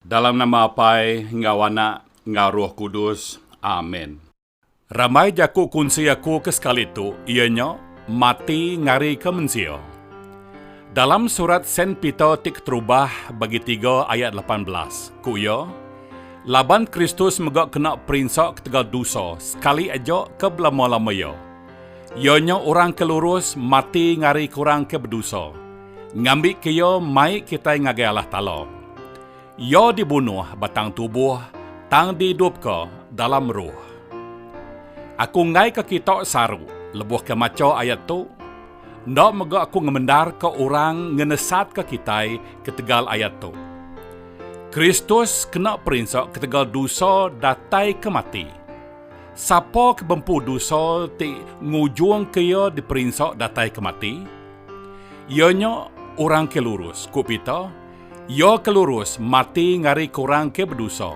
Dalam nama Apai enggau Anak enggau Roh Kudus. Amen. Rambai jaku kunsi aku ke sekali tu iya nya mati ngarika mensia. Dalam surat Saint Peter ti keterubah bagi tiga ayat lapan belas, ku iya, Laban Kristus mega kena perinsa ketegal dusa sekali aja ke belama-lama iya. Iya nya orang ke lurus mati ngarika orang ke bedusa. Ngambika iya mai kitai ngagai Allah Taala. Iya dibunuh ba tang tubuh, tang diidupka dalam ruh. Aku enggaika kita saru lebuhka macha ayat tu. Enda mega aku ngemendarka orang ngenesatka kitai ketegal ayat tu. Kristus kena perinsa ketegal dosa datai ke mati. Sapa ke bempu dosa ti ngujungka iya diperinsa datai ke mati? Iya nya orang ke lurus, ku Peter. Iya ke lurus mati ngarika orang ke bedusa.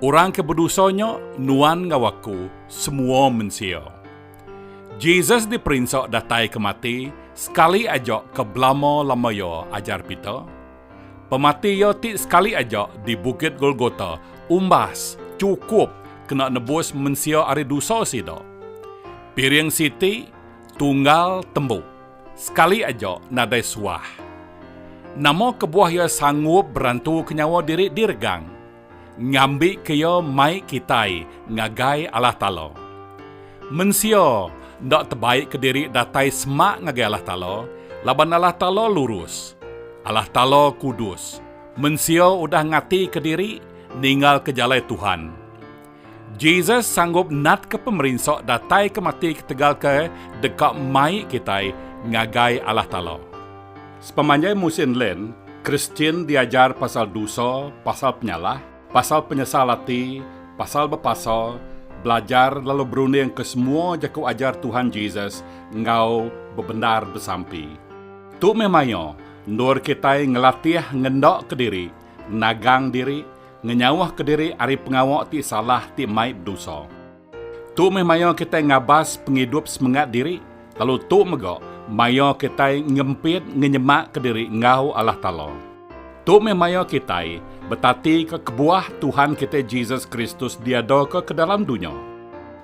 Orang ke bedusa nya nuan enggau aku semua mensia. Jesus diperinsa datai ke mati sekali aja ke belama lama iya, ajar Peter. Pemati iya ti sekali aja di Bukit Golgota umbas chukup kena nebus mensia ari dusa sida. Piring siti, Tunggal tembu. Sekali aja nadai suah. Nama kebuah iya sanggup berantuka nyawa diri diregang, ngambika iya mai kitai ngagai Allah Taala. Mensia enda tebaika diri datai semak ngagai Allah Taala laban Allah Taala lurus. Allah Taala kudus. Mensia udah ngatika diri ninggalka jalai Tuhan. Jesus sanggup natka pemerinsa datai ke mati ketegal ke deka mai kitai ngagai Allah Taala. Sepemanjai musin lent, Kristian diajar pasal dosa, pasal penyalah, pasal penyesal ati, pasal bepasa, belajar lalu berunding ke semua jaku ajar Tuhan Jesus enggau bebendar besampi. Tu meh maioh endur kitai ngelatih ngendaka diri nagang diri, ngenyauhka diri ari pengawa ti salah ti mai bedosa. Tu meh maya kitai ngabas pengidup semengat diri, lalu tu mega maya kitai ngempit ngenyemakka diri enggau Allah Taala. Tu meh maya kitai betatika kebuah Tuhan kitai Jesus Kristus diadaka ke dalam dunya.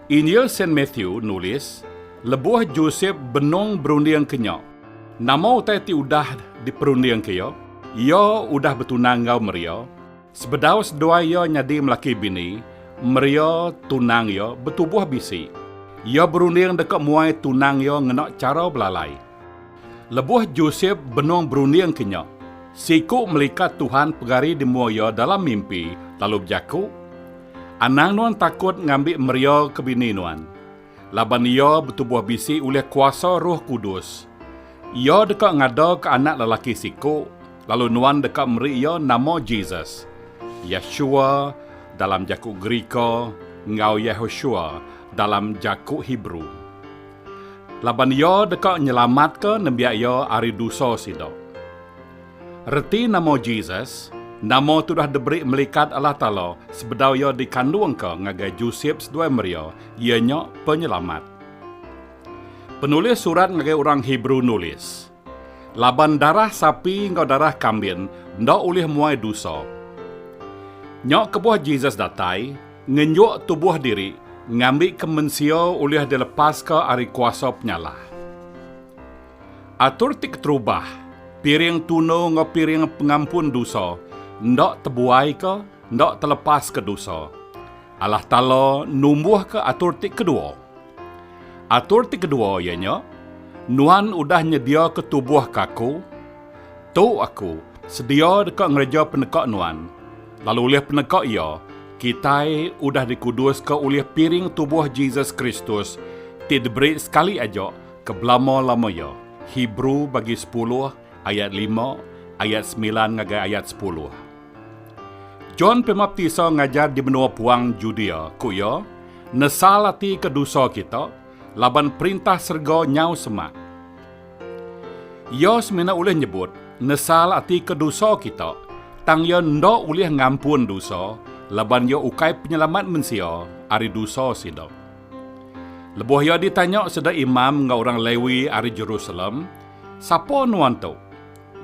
Injil Saint Matthew nulis, Lebuh Josep benung berundingka nya, Nama utai ti udah diperundingka iya? Iya udah betunang enggau Maria. Sebedau seduai iya nyadi melaki bini, Maria, tunang iya, betubuh bisi. Iya berunding deka muai tunang iya ngena chara belalai. Lebuh Josep benung berundingka nya, seiku melikat Tuhan pegari di mua iya dalam mimpi lalu bejaku, Anang nuan takut ngambi Maria ke bini nuan. Laban iya betubuh bisi ulih kuasa Roh Kudus. Iya deka ngadaka anak lelaki siku, lalu nuan deka meri iya nama Jesus. Yeshua, dalam jaku Gerika, enggau Yehoshua, dalam jaku Hebrew. Laban iya deka nyelamatka nembiak iya ari dusa sida. Reti nama Jesus, Nama tudah diberi melikat Allah Taala sebedau iya dikandungka ngagai Josep seduai Maria, iya nya Penyelamat. Penulis surat ngagai orang Hebrew nulis, Laban darah sapi enggau darah kambin enda ulih muai dosa. Nya kebuah Jesus datai ngenjuk tubuh diri ngambika mensia ulih dilepaska ari kuasa penyalah. Atur ti keterubah, piring tunu enggau piring pengampun dosa, enda tebuaika, enda telepaska dosa. Allah Taala numbuhka atur ti kedua. Atur ti kedua iya nya, Nuan udah nyediaka tubuh ke Aku. Tu Aku sedia deka ngereja peneka nuan, lalu ulih peneka iya, kitai udah dikuduska ulih piring tubuh Jesus Kristus ti diberi sekali aja Ke belama-lama iya, Hebrew bagi sepuluh ayat lima, ayat semilan ngagai ayat sepuluh. John Pemaptisa ngajar di menua puang Judea, ku iya, Nesal ati ke dusa kita, laban Perintah serega nyau semak. Iya semina ulih nyebut nesal ati ke dusa kita, tang iya enda ulih ngampun dusa laban iya ukai Penyelamat mensia ari dusa sida. Lebuh iya ditanya sida imam enggau orang Lewi ari Jerusalem, Sapa nuan tu?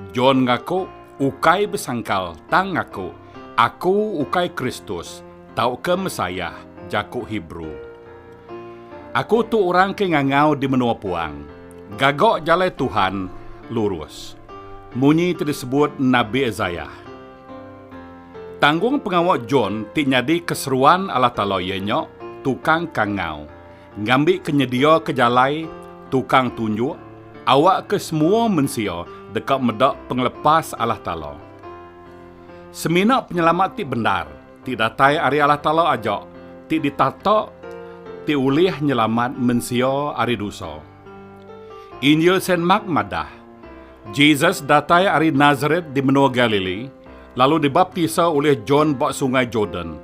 John ngaku, Ukai besangkal, tang ngaku, Aku ukai Kristus, tauka Messiah, jaku Hebrew. Aku tu orang ke ngangau di menua puang, Gaga jalai Tuhan lurus. Munyi ti disebut Nabi Isaiah. Tanggung pengawa John ti nyadi keseruan alah tala iya nya tukang kangau, ngambika nyediaka jalai, tukang tunjuk, awakka semua mensia deka meda pengelepas alah tala. Semina penyelamat ti bendar ti datai ari alah tala aja ti ditata ti ulih nyelamat mensia ari dusa. Injil Saint Mark madah, Jesus datai ari Nasaret di menua Galili, lalu dibaptisa ulih John ba Sungai Jordan.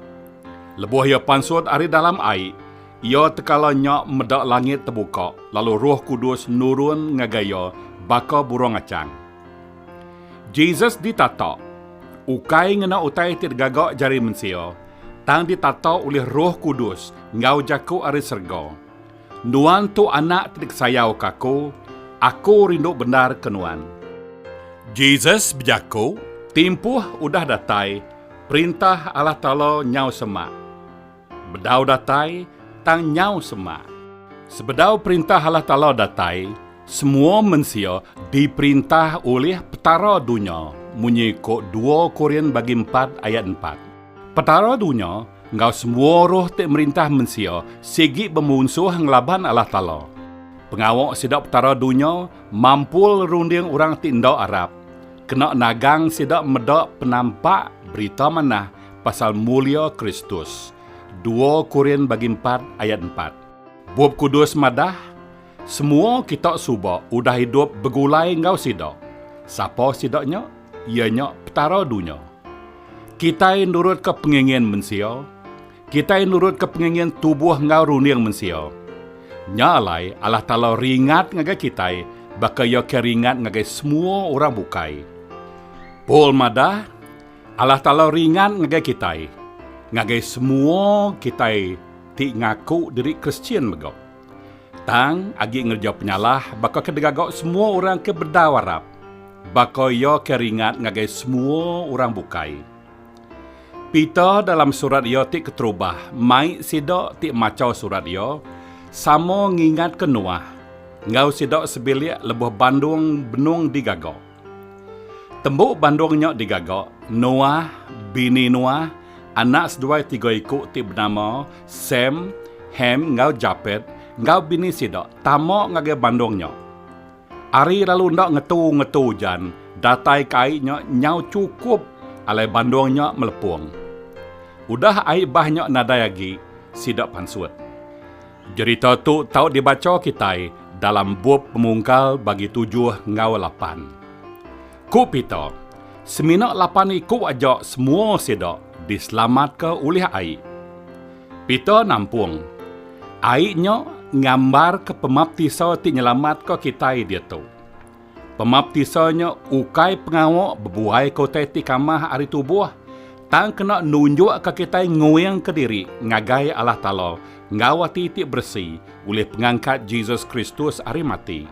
Lebuh iya pansut ari dalam ai, iya tekala nya meda langit tebuka lalu Roh Kudus nurun ngagai iya baka burung achang. Jesus ditata, ukai ngena utai ti digaga jari mensia, tang ditata ulih Roh Kudus enggau jaku ari serega. Nuan tu Anak ti dikesayauka Aku, Aku rindu bendarka Nuan. Jesus bejaku, Timpuh udah datai Perintah Allah Taala nyau semak. Bedau datai, tang nyau semak. Sebedau Perintah Allah Taala datai, semua mensia diperintah ulih Petara dunya, munyi ko dua Korin bagi empat ayat empat. Petara dunya enggau semua roh ti merintah mensia sigi bemunsuh ngelaban Allah Taala. Pengawa sida petara dunya mampul runding orang ti enda arap, kena nagang sida meda penampak Berita Manah pasal mulia Kristus, dua Korin bagi empat ayat empat. Bup Kudus madah, Semua kita suba udah idup begulai enggau Sida. Sapa Sida nya? Iya nya Petara dunya. Kitai nurutka pengingin mensia. Kitai nurutka pengingin tubuh enggau runding mensia. Nya alai Allah Taala ringat ngagai kitai baka Iya ke ringat ngagai semua orang bukai. Paul madah, Allah Taala ringat ngagai kitai, ngagai semua kitai ti ngaku diri Kristian mega. Tang, agi ngereja penyalah baka ke digaga semua orang ke bedau arap, baka iya ke ringat ngagai semua orang bukai. Peter dalam surat iya ti keterubah mai sida ti macha surat iya sama ngingatka Noah enggau sida sebilik lebuh bandong benung digaga. Tembu Bandung nya digaga Noah, bini Noah, anak seduai tiga iku ti benama Sem, Ham enggau Japet enggau bini sida tama ngagai Bandung nya. Ari lalu enda ngetu-ngetu ujan, datai ke ai nya nyau chukup alai Bandung nya melepung. Udah ai bah nya nadai agi sida pansut. Jerita tu tau dibacha kitai dalam bup pemungkal bagi tujuh enggau lapan. Ku Peter, semina lapan iku aja semua sida diselamatka ulih ai. Peter nampung, ai nya ngambarka pemaptisa ti nyelamatka kitai diatu. Pemaptisa nya ukai pengawa bebuai ke utai ti kamah ari tubuh, tang kena nunjukka kitai nguingka diri ngagai Allah Taala enggau ati ti beresi ulih pengangkat Jesus Kristus ari mati.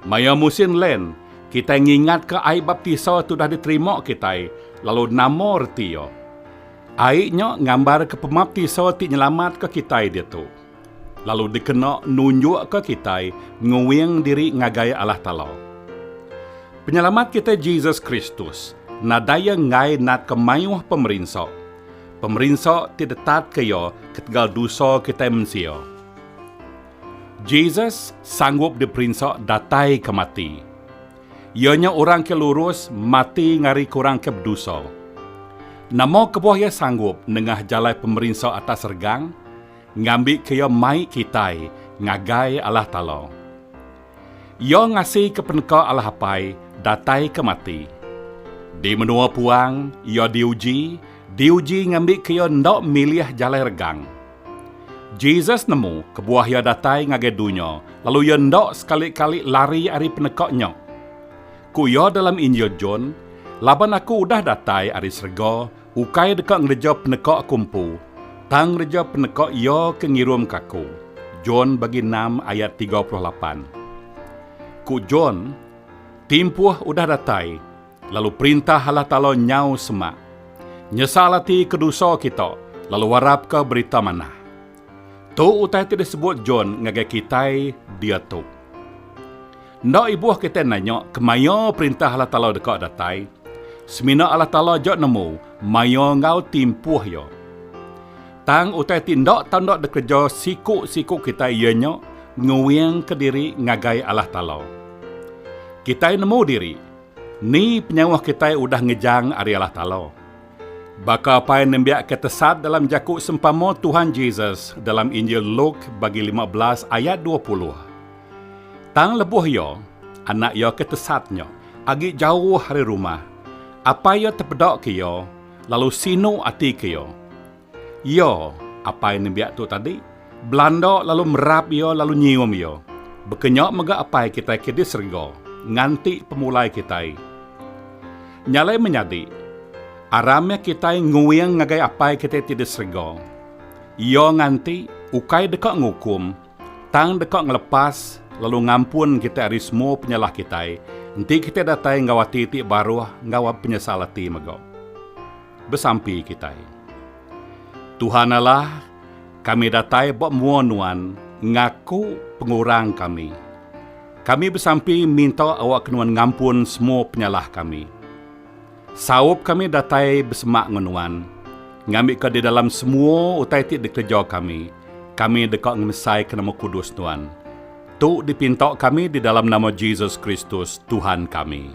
Maya musin Lent, kitai ngingatka ai baptisa ti udah diterima kitai, lalu nama reti iya. Ai nya ngambarka pemaptisa ti nyelamatka kitai diatu. lalu dikena nunjukka kitai nguing diri ngagai Allah Taala. Penyelamat kitai Jesus Kristus nadai iya enggai natka mayuh pemerinsa, pemerinsa ti ditatka iya ketegal dosa kitai mensia. Jesus sanggup diperinsa datai ke mati. Iya nya orang ke lurus mati ngarika orang ke bedosa. Nama kebuah iya sanggup nengah jalai pemerinsa atas regang? Ngambika iya mai kitai ngagai Allah Taala. Iya ngasika peneka Allah Apai dataika mati. Di menua puang, iya diuji, diuji ngambika iya enda milih jalai regang. Jesus nemu kebuah iya datai ngagai dunya lalu iya enda sekali-kali lari ari peneka nya. Ku iya dalam Injil John, Laban aku udah datai ari serega, Ukai deka ngereja peneka aku empu, tang ngereja peneka Iya ke ngirumka aku. Jon bagi enam ayat tiga puluh lapan. Ku Jon, Timpuh udah datai, lalu Perintah Allah Taala nyau semak. Nyesal ati ke dusa kita, lalu warapka Berita Manah. Tu utai ti disebut John ngagai kitai diatu. Enda ibuh kitai nanya kemaya Perintah Allah Taala deka datai, semina Allah Taala aja nemu maya enggau timpuh iya. Tang utai ti enda tau enda dikereja siku-siku kitai iya nya nguingka diri ngagai Allah Taala. Kitai nemu diri, ni penyawa kitai udah ngejang ari Allah Taala. Baka apai nembiakka tesat dalam jaku sempama Tuhan Jesus dalam Injil Luk bagi lima belas ayat dua puluh. Tang lebuh iya, anak iya ke tesat nya agi jauh ari rumah, apai iya tepedaka iya lalu sinu atika iya. Iya, apai nembiak tu tadi, belanda lalu merap iya lalu nyium iya. Baka nya mega Apai kitai ke di serega nganti pemulai kitai. Nya alai menyadi, aram meh kitai nguing ngagai Apai kitai ti di serega. Iya nganti ukai deka ngukum, tang deka ngelepas lalu ngampun kitai ari semua penyalah kitai enti kitai datai enggau ati ti baruh enggau penyesal ati mega. besampi kitai. Tuhan Allah, kami datai ba mua Nuan ngaku pengurang kami. Kami besampi minta awakka Nuan ngampun semua penyalah kami. Saup kami datai besemak enggau Nuan, ngambika di dalam semua utai ti dikereja kami, kami deka ngemesaika nama kudus Nuan. Tu dipinta kami di dalam nama Jesus Kristus, Tuhan kami.